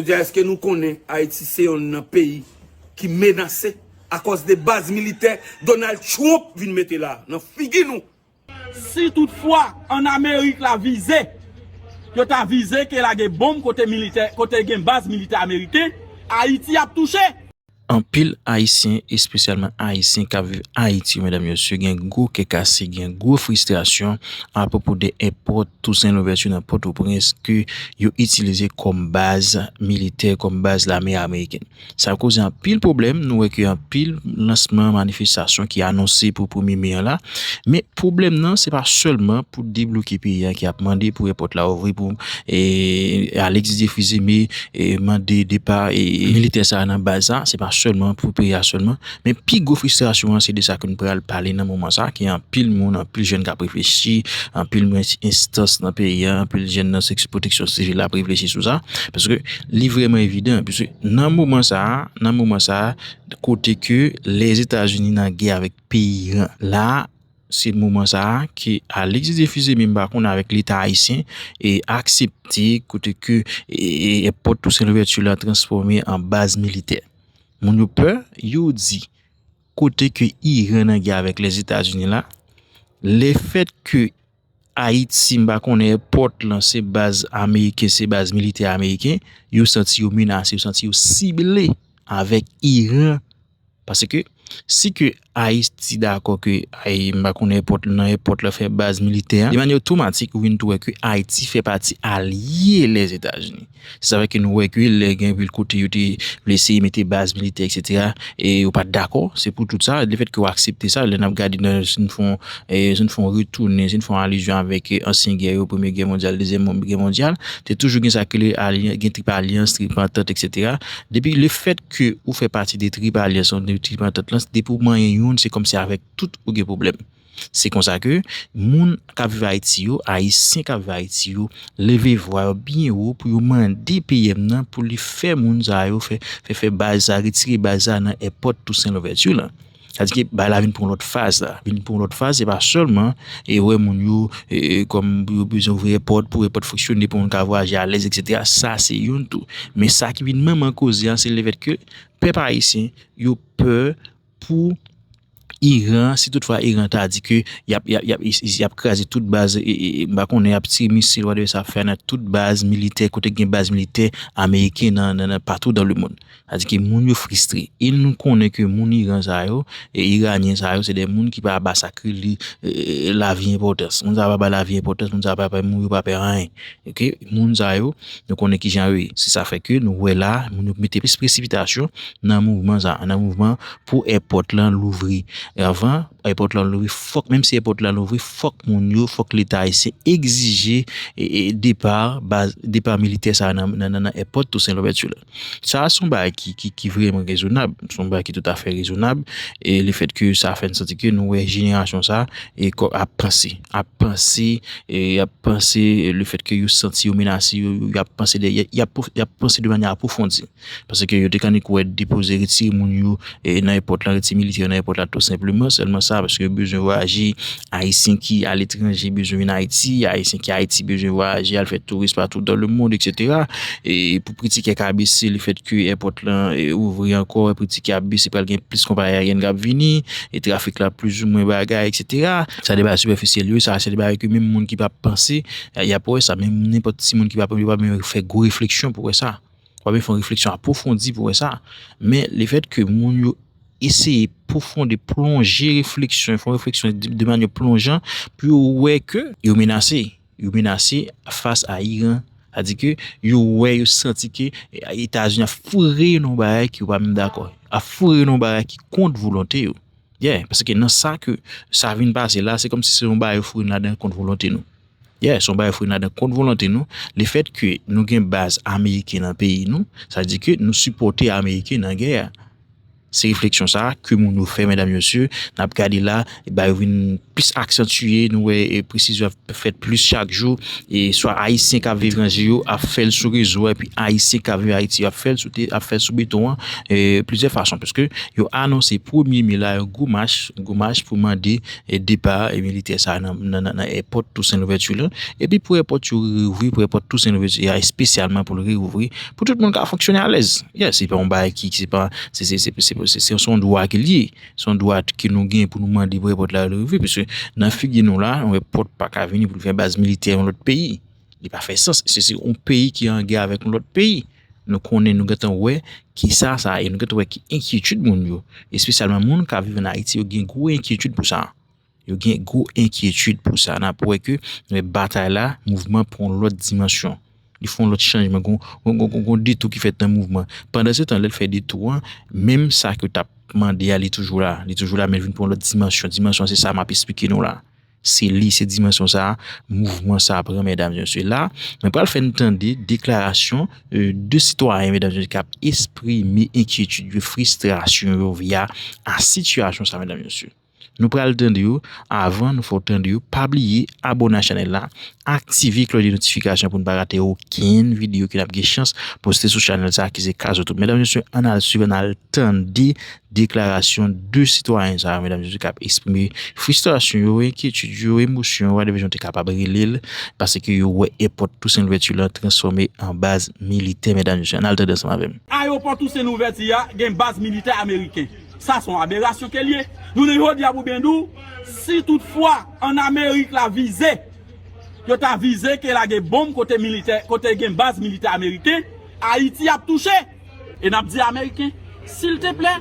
Jodi a eske nou konnen Ayiti se yonn nan peyi ki menase akòz de baz militè Donald Trump vin mete la nan figi nou? Si tout fwa an Amerik la vize, yo ta vize ke lage bonm kote militè, kote gen baz militè Ameriken, Ayiti ap touche! Anpil ayisyen espesyalman ayisyen kap viv ayiti yo medam mesye gen gwo kè kase gen gwo fristrasyon apwopo de èpò Toussaint Louverture nan Pòtoprens ke yo itilize kòm baz militè kòm baz lame amerikèn sa koze anpil pwoblèm nou wè ke anpil lansman manifestasyon ki anonse pou premye me an la men pwoblèm nan se pa sèlman pou debloke peyi a ki ap mande pou èpòt la ouvri pou Alexis Défrize me mande depa militè sa nan baz sa se pa sèlman pou peyi a sèlman men pi gwo fristrasyon an se de sa ke nou pral pale nan moman sa ke anpil moun anpil jèn kap reflechi anpil moun anpil enstans nan peyi a anpil jèn nan seksyon pwoteksyon sivil la ap reflechi sou sa paske li vreman evidan paske nan moman sa nan moman sa kote ke lèzetazini nan gè avèk peyi iran la Se moman sa a ke Alix Didier Fils-Aimé m pa konnen avèk leta ayisyen aksepte kote ke èpòt Toussaint Louverture la transfòme an baz militè. Moun yo pè, yo di kote ke Iran nan gè avèk Lèzetazini la, le fèt ke Ayiti m pa konnen èpòt lan se baz ameriken, se baz militè ameriken, yo santi yo menase, yo santi yo sible avèk Iran Pase ke si ke Ayiti dakò ke mpa konnen èpòt nan èpòt la fè baz militè a, de manyè otomatik ou vin tou wè ke Ayiti fè pati alye Lèzetazini. Se sa fè ke nou wè ke lè gen vil kote yo te vle eseye mete baz militè eksetera e yo pat dakò. Se pou tout sa, le fèt ke ou aksepte sa, lè nap gade nan si nou fon si nou fon retounen, si nou fon alizyon avèk ansyen gè yo, premye gè mondyal, dezyèm gè mondyal, te toujou gen sa ki rele alyan gen trip alyans, trip antant eksetera. Depi le fèt. ke ou fè pati de trip alyans lan, de trip antant lan, depi ou manyen youn se kòmsi avèk tout ou gen pwoblèm. Se konsa ke moun k ap viv Ayiti yo, Ayisyen k ap viv Ayiti yo leve vwa yo byen wo pou yo mande PM nan pou li fè moun sa yo, fè fè baz sa, retire baz sa nan èpòt Tousen Louvèti lan. Sa di ke bagay la vin pran yon lòt faz la. Vin pran yon lòt faz, se pa sèlman e wè moun yo kòm pou yo bezwen ouvri èpòt, pou èpòt fonksyone, pou moun ka vwayaje alèz eksetera. Sa se youn tou. Men sa ki vin manman koze an, se le fèt ke pèp ayisyen yo pè pou Iran, si tout fwa Iran ta di ke yap kraze tout baz, m pa konnen yap tire misil whatever sa ap fè nan tout baz militè, kote gen baz militè ameriken nan patou dan le moun. Sa di ke moun yo fristre. E nou konnen ke moun Iran sa yo, Iranyen sa yo, se de moun ki pa ba sakri li lavi enpòtans. Moun sa yo pa bay lavi enpòtans, moun sa yo pa pè mouri, yo pa pè anyen. Ok, moun sa yo, nou konnen ki jan yo ye. Se sa fè ke nou wè la, moun yo mete plis presipitasyon nan mouvman sa, nan mouvman pou èpòt lan louvri. E anvan, èpòt lan louvri, fòk, menm si èpòt lan louvri, fòk moun yo, fòk leta ayisyen egzije depar, depar militè sa nan èpòt Toussaint Louverture. Sa a se yon bagay ki vreman rezonab, se yon bagay ki toutafè rezonab e le fèt ke sa fè n santi ke nou wè jenerasyon sa a ap panse, ap panse, ap panse le fèt ke yo santi yo menase, yo ap panse de, yo ap panse de manyè apwofondi. Paske yo te kande kwè depoze, retire moun yo. nan èpòt lan, rete militè yo nan èpòt la tou senpleman, sèlman sa, paske yo bezwen vwayaje, Ayisyen ki aletranje bezwen vin Ayiti, Ayisyen ki Ayiti bezwen vwayaje al fè touris patou dan le mond eksetera, e pou pri tikè ka bese le fèt ke èpòt lan ouvri ankò, pri tikè ap bese pral gen plis konpayi ayeryèn kap vini, e trafik la plizoumwen bagay eksetera. Sa se bagay sipèfisyèl yo, sa se de bagay ke menm moun ki pa panse yap wè sa, menm nenpòt timoun ki pa fè gwo refleksyon pou wè sa. Wap byen fè yon refleksyon apwofondi pou wè sa. Men le fèt ke moun yo eseye pwofonde, plonje refleksyon, fè yon refleksyon de manye plonjan pou yo wè ke yo menase. Yo menase fas a Iran. A di ke yo wè, yo santi ke Etazini ap foure yo nan yon bagay ke yo pa menm dakò. Ap foure yo nan yon bagay ki kont volonte yo. Ye, paske nan sa ke sa vin pase la, se kòm si se yon bagay yo foure nou ladan kont volonte nou. Yeah, son bagay fou nadan kont volonte nou, le fèt ke nou gen baz ameriken nan peyi nou, sa di ke nou sipòte ameriken nan gè a. Se refleksyon sa a ke moun yo fè medam mesye, nap gade la, ba yo vin plis aksantye, nou wè e presizyon ap fèt plis chak jou, e swa ayisyen kap viv etranje yo ap fèl sou rezo a, epi ayisyen kap viv Ayiti yo ap fèl sou te ap fèl sou beton an e plizyè fason, paske yo anonse premye me la yon gwo mach, gwo mach pou mande e depa militè sa nan nan èpòt Toussaint Louverture lan epi pou èpòt yo reyouvri pou èpòt Toussaint Louverture a espesyalman pou l reyouvri pou tout moun ka fonksyone alèz yes se pa yon bagay ki se pa se se se se se son dwa ke l ye son dwa ke nou gen pou nou mande pou èpòt la reyouvri pise nan figi nou la yon èpòt pa ka vini pou l fè baz militè yon lòt peyi li pa fè sans se se yon peyi ki an gè avèk yon lòt peyi. Nou konnen, nou gentan wè ki sa sa ye, nou gentan wè ki enkyetid moun yo, espesyalman moun k ap viv ann Ayiti yo gen gwo enkyetid pou sa. Yo gen gwo enkyetid pou sa. N ap wè ke batay la, mouvman pran yon lòt dimansyon. Li fè yon lòt chanjman. Gon detou ki fèt nan mouvman. Pandansetan, lè l fè detou an, menm sa ke l t ap mande a, li toujou la. Li toujou la men l vin pran yon lòt dimansyon. Dimansyon an se sa m ap esplike nou la. Se li, se dimansyon sa a mouvman sa a pran medam e mesye. La, mwen pral fè n tande deklarasyon 2 sitwayen medam e mesye k ap esprime enkyetid yo, fristrasyon yo via a sitiyasyon sa a medam e mesye. Nou pral tande yo, avan nou fè w tande yo, pa bliye abone a chanèl la, aktive klòch de notifikasyon pou n pa rate okenn videyo ke n ap gen chans poste sou chanèl sa a ki se Kaz Youtube. Medam e mesye, an n al swiv, an n al tande Deklarasyon 2 sitwayen sa yo, medam se yo k ap esprime fristrasyon yo, enkyetid yo, emosyon yo, Wadèvèjan te kapab rele l, paske yo wè èpòt Tousen Louvèti lan transfòme an baz militè, medam se yo, an n al tande ansanm avè m. Ayewopò Tousen Louvèti a gen baz militè ameriken. Sa s on aberasyon ke l ye. Jounen jodi a pou byen di w, si tout fwa an Amerik la vize, yo ta vize ke lage bonm kote militè, kote gen baz militè ameriken, Ayiti ap touche! E nap di ameriken silteplè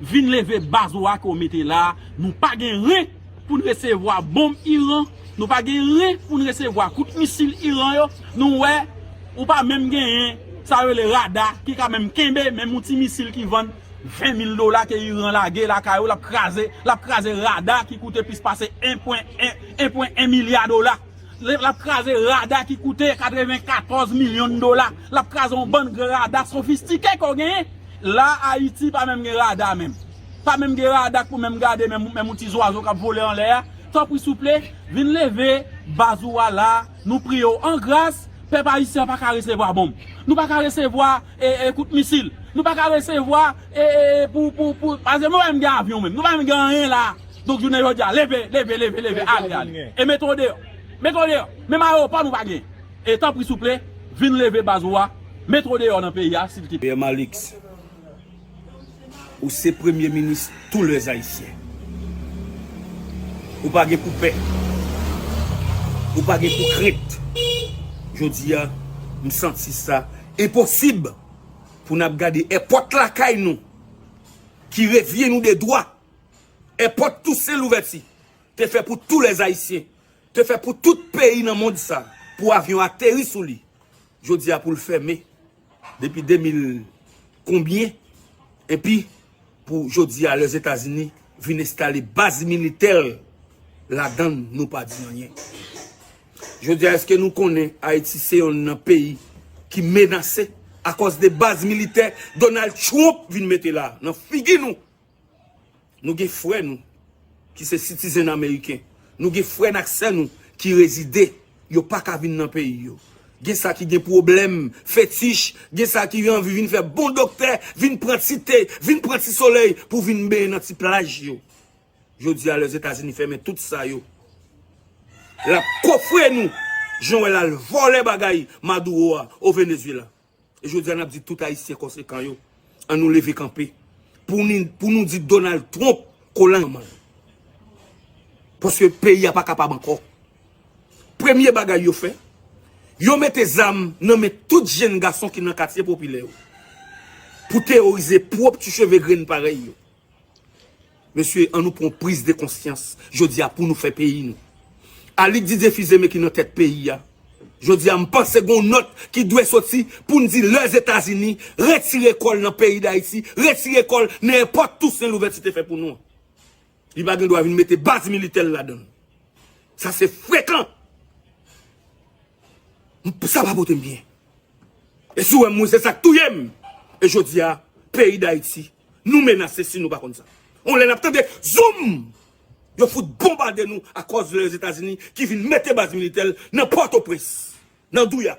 vin leve baz ou a ke w mete la a, nou pa gen ren pou n resevwa bonm Iran, nou pa gen ren pou n resevwa kout misil Iran yo, nou wè ou pa menm genyen sa yo rele rada ki ka menm kenbe menm yon ti misil ki vann 20 mil dola ke Iran lage lakay ou lap kraze, lap kraze rada ki koute plis pase 1 pwen 1 milya dola. Lap kraze rada ki koute 94 milyon dola. Lap kraze yon bann gran rada sofistike ke w genyen. La Ayiti pa menm gen rada menm. Pa menm gen rada k pou menm gade menm yon ti zwazo kap vole anlè a. Tanpri souple, vin leve baz ou a la, nou priye w an gras, pèp Ayisyen an pa ka resevwa bonm. Nou pa ka resevwa. e kout misil nou paka resevwa e pou pou pou pase nou pa menm gen avyon menm nou pa menm gen anyen la donk jounen jodi a leve leve leve leve ale ale e mete w deyò mete w deyò menm ayewopò nou pa gen e tanpri souple vin leve baz ou a mete w deyò nan peyi a sil te. Pierre Malix. Ou se premye minis tou les ayisyen. Ou pa gen pou pè. Ou pa gen pou krent. Jodi a m santi sa enposib pou nap gade èpòt lakay nou ki revye nou de dwa. Èpòt Tousen Louvèti te fè pou tou les ayisyen. Te fè pou tout peyi nan mond sa pou avyon ateri sou li. Jodi a pou l fèmen. Depi 2000 konbyen epi pou jodi a les etazini vin enstale baz militèl ladann nou pa di anyen. Jodi a eske nou konnen ayiti se yonn nan peyi ki menase akòz de baz militè Donald Trump vin mete la nan figi nou. Nou gen frè nou ki se sitizen ameriken. Nou gen frè n ak sè nou ki rezide. Yo pa ka vin nan peyi yo. Gen sa ki gen pwoblèm fetich. Gen sa ki anvi vin fè bon doktè, vin pran ti te, vin pran ti solèy pou vin benyen nan ti plaj yo. Jodi a, lè Zetazini fèmen tout sa yo, l ap kofre nou jan w wè l al vòlè bagay Maduro a o Venezuela. E jodi a nap di tout ayisyen konsekan yo an nou leve kanpe pou nou di Donald Trump kolan manman l. Paske peyi a pa kapab ankò. Premye bagay yo fè, yo mete zam nan men tout jenn gason ki nan katye popilè yo pou teworize pwop ti cheve grenn parèy yo. Mesye an nou pran priz de konsyans jodi a pou nou fè peyi nou. Aly Didier Fils-Aimé ki nan tèt peyi a. Jodi a m panse gon nòt ki dwe soti pou n di Lèzetazini retire kò l nan peyi Dayiti, retire kò l nan èpòt Tousen Louvèti te fè pou nou an. Li pa gen dwa vin mete baz militè l ladan l. Sa se frekan. Sa pa pote m byen. E si w wè m mwen se sa k touye m. E jodi a peyi Dayiti. Nou menase si nou pa konn sa. On lè nap tande zoom! Yo fout bonbade nou akòz lèzetazini ki vin mete baz militè l nan pòtoprens, nan douya.